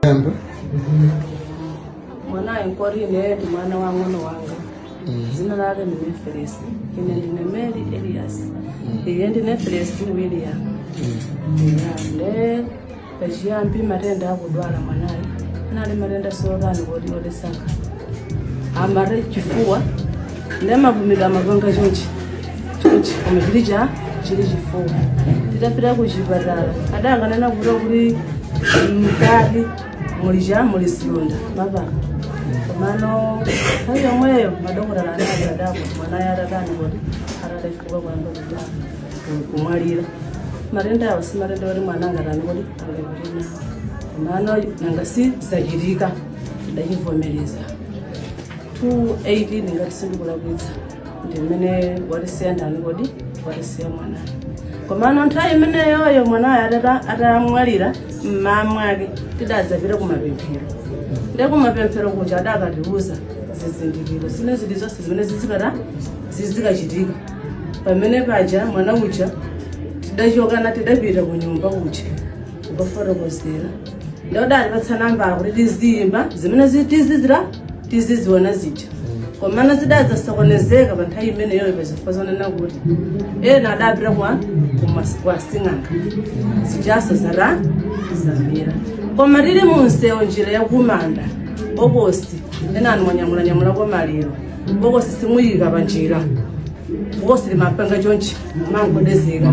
Yamba. mwanayo nkori ineyo ndi mwana wa mng'ono wanga dzina lake ndi neferesi ine ndine mary elias iye ndi neferesi ndi william Ya, nde pachiyambi matenda akudwala mwanayo anali matenda sotani kodi odesanga amare chifuwa nde mapumidwe amapanga chonchi chonchi koma chili cha chili chifuwa titapita ku chipatala adangonena kuta kuti mkati muli cha muli zilonda mmapapo komano nthawi yomweyo madokotala anali odabwa mwanayo atatani kuti atadafuka kuyamba kuja kumwalira matenda awo si matenda oti mwana angatani kuti angapite nawo komano nanga si zachitika tidachivomereza 218 ngati sindikulakwitsa ndi mmene watisiya ndani kuti watisiya mwana komano nthawi imeneyoyo mwanayo atata- atamwalira mmaa mwake tidadzapita kumapemphero ndi kumapemphero kuja adakatiuza zizindikiro zina zilizonse zimene zizikata zizikachitika pamene paja mwana uja tidachokana tidapita ku nyumba kuja nkufotokozera nde adatipatsa nambala kuti tiziyimba zimene zi- tizizira tiziziona zija komana zidazasokonezeka pa nthawi imeneyoyo pazifukwa zonena kuti ena adapita kwa kumas- kwa sing'anga zijanso zara zamira koma tili munsewo njira yakumanda bokosi ena anthu anyamulanyamula kwa maliro bokosi simuyika pa njira bokosi limapanga chonchi kumangogwedezeka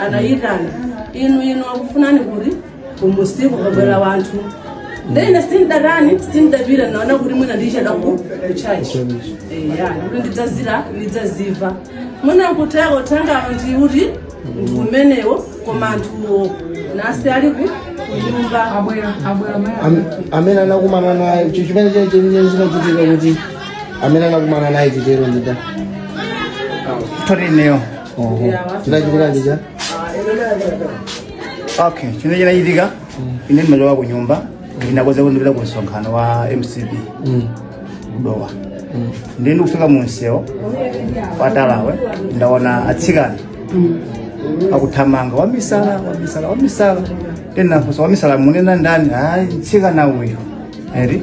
anayitana inu inu akufunani kuti kumunsiku kwabwera anthu nde ine sindatani sindapita naona kuti mwina ndichedwa ku kuchachi eya kuti ndidzazira ndidzadziwa mwina nkuteko tanga ndi uti ndi umenewo koma anthuwo nasi ali ku kunyumba abwera abwera maya Am- amene anakumana naye icho chimene chili chenye zinachitika kuti amene anakumana naye chitero ndida Torneo. chinachitika chija okay chino chinachitika ine ndimachoka ku nyumba ndinakonza kuti ndipita ku msonkhano wa mcp ku dowa ndiye ndikufika mu msewu watalawu ndaona atsikana akuthamanga wamisala wamisala wamisala ndinafunsa wamisala munena ndani ayi mtsikana uyu eri